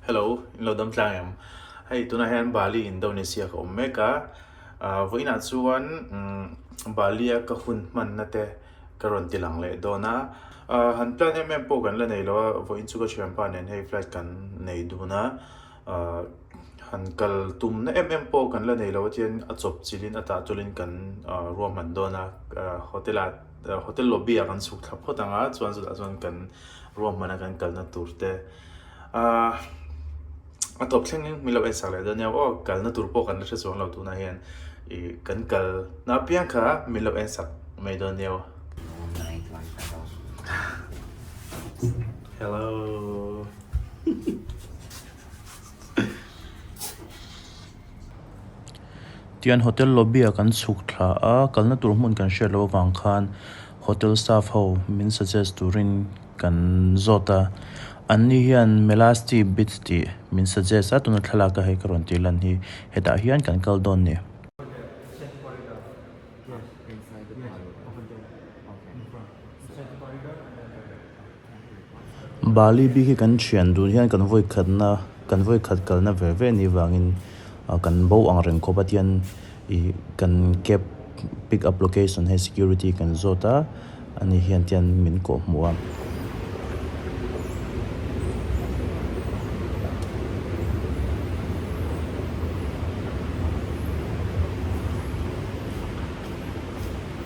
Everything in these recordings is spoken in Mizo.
Hello, in lo dam tlang em? Hei tuna hian Bali Indonesia ka awm mek a, vawiinah chuan Bali a ka hun hmanna te ka rawn ti lang leh dawn a, han plan em em pawh kan la nei lo a, vawiin chu ka thianpa nen hei flight kan nei dun a, han kal tumna em em pawh kan la nei lo a chuan a chawp chilhin a tah tulin kan ruahman dawn a, hotel ah Hotel lobby ah kan chhuk thla phawt ang a, chuan chutah chuan kan ruah hmana kan kalna tur te a tawp thleng in min lo en sak leh dawn nia aw kalna tur pawh kan la hrechuang lo tunah hian i kan kal na apiang kha min lo en sak mai dawn nia aw. Hello. Tian hotel lobby ah kan chhuk thla a, kalna tur hmun kan hriat loh avang khan hotel staff ho min suggest turin kan zawt a, an ni hian Melasti Beach tih min suggest a, tuna thlalak a hei ka rawn tih lan hi hetah hian kan kal dawn ni. Bali bik hi kan thian dun hian kan vawi khatna kan vawi khat kalna ve ve ni vangin kan bo ang reng khawp a tian ih kan cab pick up location he security kan zawt a ani hian tian min kawh hmu a.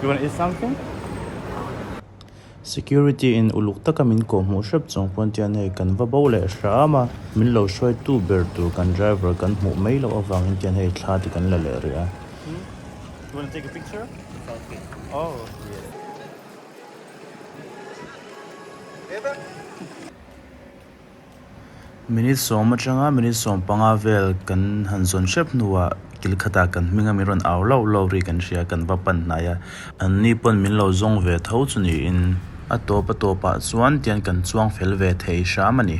You wanna eat something? Security in uluk taka min kawh hmuh hrep chawng pawn tian hei kan va bo leh hram a, min lo hruai tu ber tur kan driver kan hmuh mai loh avangin tian hei thla te kan la leh rih a. You wanna take a picture? Selfie. Oh yes. Minute sawm atanga minute sawm panga vel kan han zawn hrep hnuah kil khatah kan hminga min rawn au lauh lauh ri kan hria kan va pan hnai a. An ni pawn min lo zawng ve tho chu niin a tawp a tawp ah chuan tian kan chuang fel ve thei hram a ni.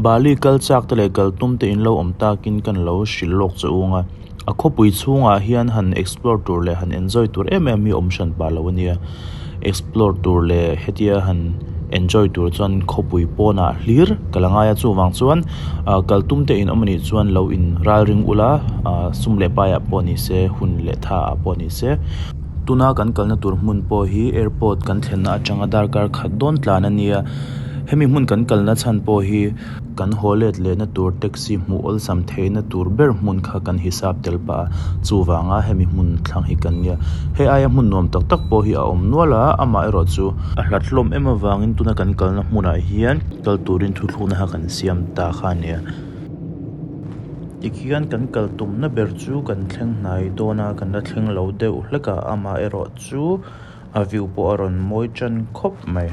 Bali kal chak te leh kal tum te in lo awm takin kan lo hrilh lawk che ung a. A khawpui chhungah hian han explore tur leh han enjoy tur em em hi awm hran pah lo a nia. Explore tur leh hetia han enjoy tur chuan khawpui pawnah hlir ka la ngai a. Chuvang chuan aah kaltum te in awm anih chuan lo in ral ring ula aah sum leh paiah pawh ni se, hun leh tha ah pawh ni se. Tuna kan kalna tur hmun pawh hi airport kan thlenna atanga darkar khat dawn tlan a nia. Hemi hmun kan kalna chhan pawh hi. Kan haw let lehna tur taxi hmuh awlsam theihna tur ber hmun kha kan hisap tel pah a, chuvanga hemi hmun thlang hi kan nia. He aia hmun nuam tak tak pawh hi a awm nual a, amah erawh chu a hlathlawm em avangin tuna kan kalna hmunah hian kal turin thuthlukna kha kan siam ta kha a nia. Tikhian kan kal tumna ber chu kan thleng hnai dawn a, kan la thleng lo deuh hlek a, amah erawh chu a view pawh a rawn mawi ṭan khawp mai.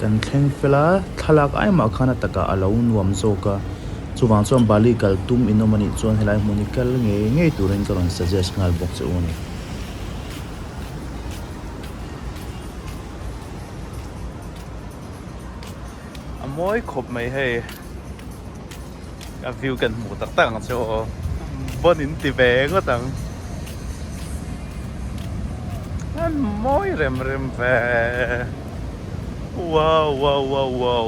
Kan thleng fel a, thlalak ai mah khan a takah a lo nuam zawk a, chuvang chuan Bali kal tum inawm a nih chuan helai hmun hi kal ngei ngei turin ka rawn suggest nghal bawk che u ni. a mawi khawp mai hei a view kan hmuh tak tak ang che aw bun in ti ve ngawt ang an mawi rem rem ve wow wow wow wow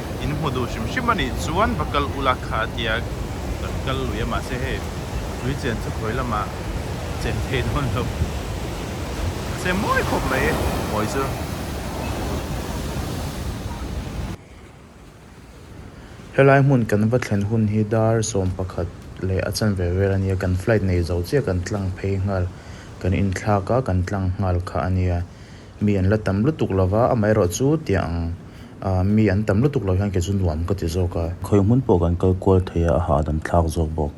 in hmu duh hrim hrim a nih chuan va kal u la kha a ti a, kan kal lui a mahse hei tui chen chu khawi lamah chen thei dawn lo mahse mawi khawp mai a hawi chu Helai hmun kan va thlen hun hi dar sawm pakhat leh a chanve vel a nia, kan flight nei zo chiah kan tlang phei nghal kan inthlak a kan tlang nghal kha a nia. Mi an la tam lutuk lo va, amaherawh chu tiang ahh mi an tam lutuk lo hian kei chu nuam ka ti zawk a. Khawi hmun pawh kan kal kual thei a, a ha a dam thlak zawk bawk.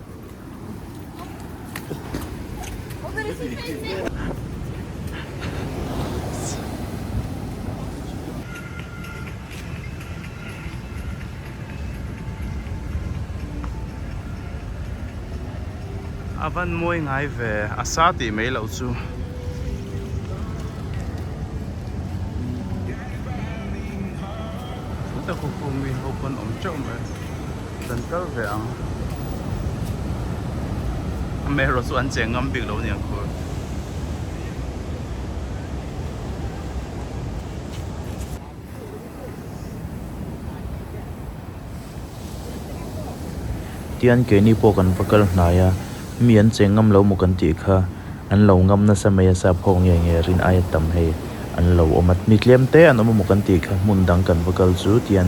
Avan muai ngai ve asa tih mai loh chu. Kum tak khup khup mi ho pawn awm teuh mai. Hlan tal ve ang. A mero chu an cheng ngam bik lo nia khur. Tian keini pawh kan va kal hnai a, mi an cheng ngam lo maw kan tih kha, an lo ngam nasa mai a sa pho nge nge rin aia tam hei an lo awm a, mi tlem te an awm a maw kan tih kha hmun dang kan va kal chu tian.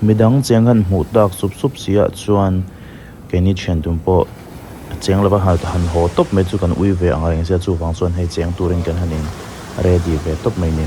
Midang cheng han hmuh tak sup sup si ah chuan keini thian dun pawh cheng lova han han haw tawp mai chu kan ui ve ang a engzia chuvang chuan hei cheng turin kan han in ready ve tawp mai ni.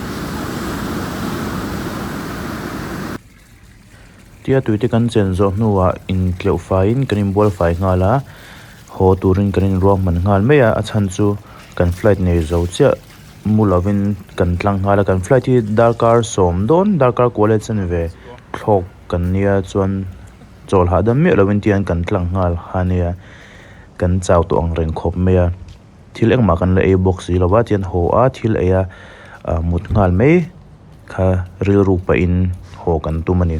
Tia tui te kan chen zawh hnuah intleuh faiin kan inbual fai nghal a, haw turin kan inruak hman nghal mai a, a chhan chu kan flight nei zo chiah mu lovin kan tlang nghal a, kan flight hi darkar sawm dawn darkar kual e chen ve thlawk kan nia chuan chawlh hahdam miah lovin tian kan tlang nghal ha nia, kan chau tawh ang reng khawp mai a. thil engmah kan la ei bawk si lo va chuan haw a thil eia ah mut nghal mai kha rilru pahin haw kan tum a ni.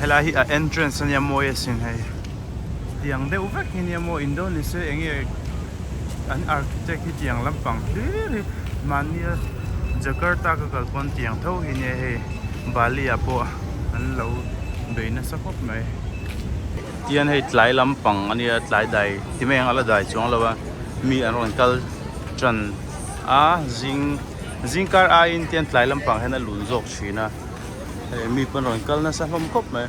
Helai hi a entrance ania mawi asin hei tiang deuh vek hi nia maw Indonesia eng nge an architect hi tiang lampang hlir hi mahnia Jakarta ka kal pawn tiang tho hi nia hei Bali ah pawh an lo bei nasa khawp mai tian hei tlai lampang ania tlai dai ti mai ang a la dai chuang lo a mi an rawn kal tan a zing-- Zingkar aiin tian tlai lampang hian a lun zawk thin a, hei mi pawn rawn kal nasa hlawm khawp mai.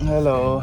Hello.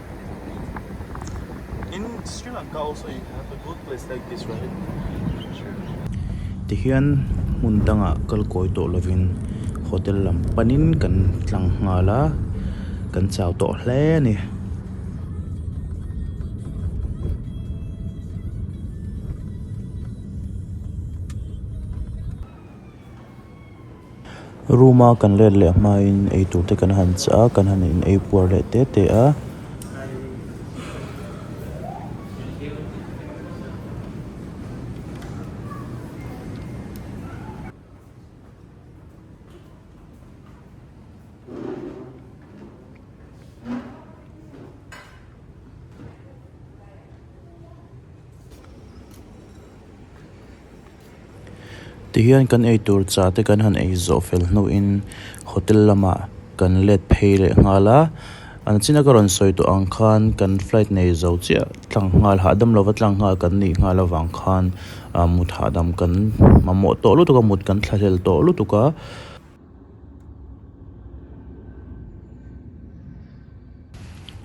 Tihian hmun dangah kal kawi tawh lovin hotel lam panin kan tlang nghal a kan chau tawh hle a ni. Room a kan let leh hmain eitur te kan han chah a, kan han in ei puar leh te te a. Tihian kan ei tur cha te kan han ei zawh fel hnuin hotel lamah kan let phei leh nghal a, an china ka rawn sawi tawh ang khan kan flight nei zo chiah tlang nghal hahdam lova tlang nghal kan nih nghal avang khan mut hahdam kan mamawh tawh lutuk a, mut kan thlahlel tawh lutuk a.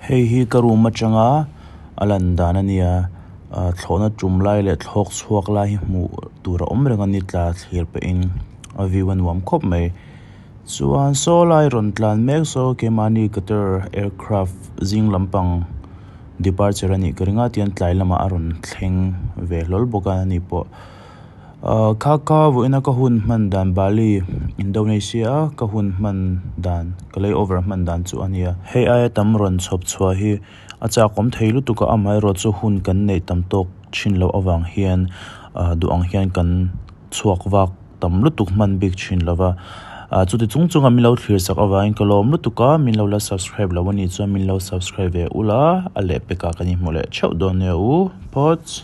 Hei hi ka room atanga a lan dan a nia ahh thlawhna tum lai leh thlawk chhuak lai hi hmuh tur a awm reng a ni tla thlir pah in a view a nuam khawp mai chuan saw lai rawn tlan mek saw kemani qatar aircraft zing lampang departure a nih ka ring a tian tlai lamah a rawn thleng ve hlawl bawk a ni pawh. Kha ka vuahin ka hun hman dan Bali Indonesia ka hun hman dan ka lay over hman dan chu a nia. Hei aia tam rawn chhawp chhuah hi a chak awm thei lutuk a, amaherawh chu hun kan neih tam tawk thin loh avang hian duh ang hian kan chhuak vak tam lutuk hman bik thin lo va, chuti chung chunga min lo thlir sak avangin ka lawm lutuk a, min lo la subscribe lo anih chuan min lo subscribe ve ula, a lehpek ah kan inhmu leh theuh dawn nia u. Thoughts.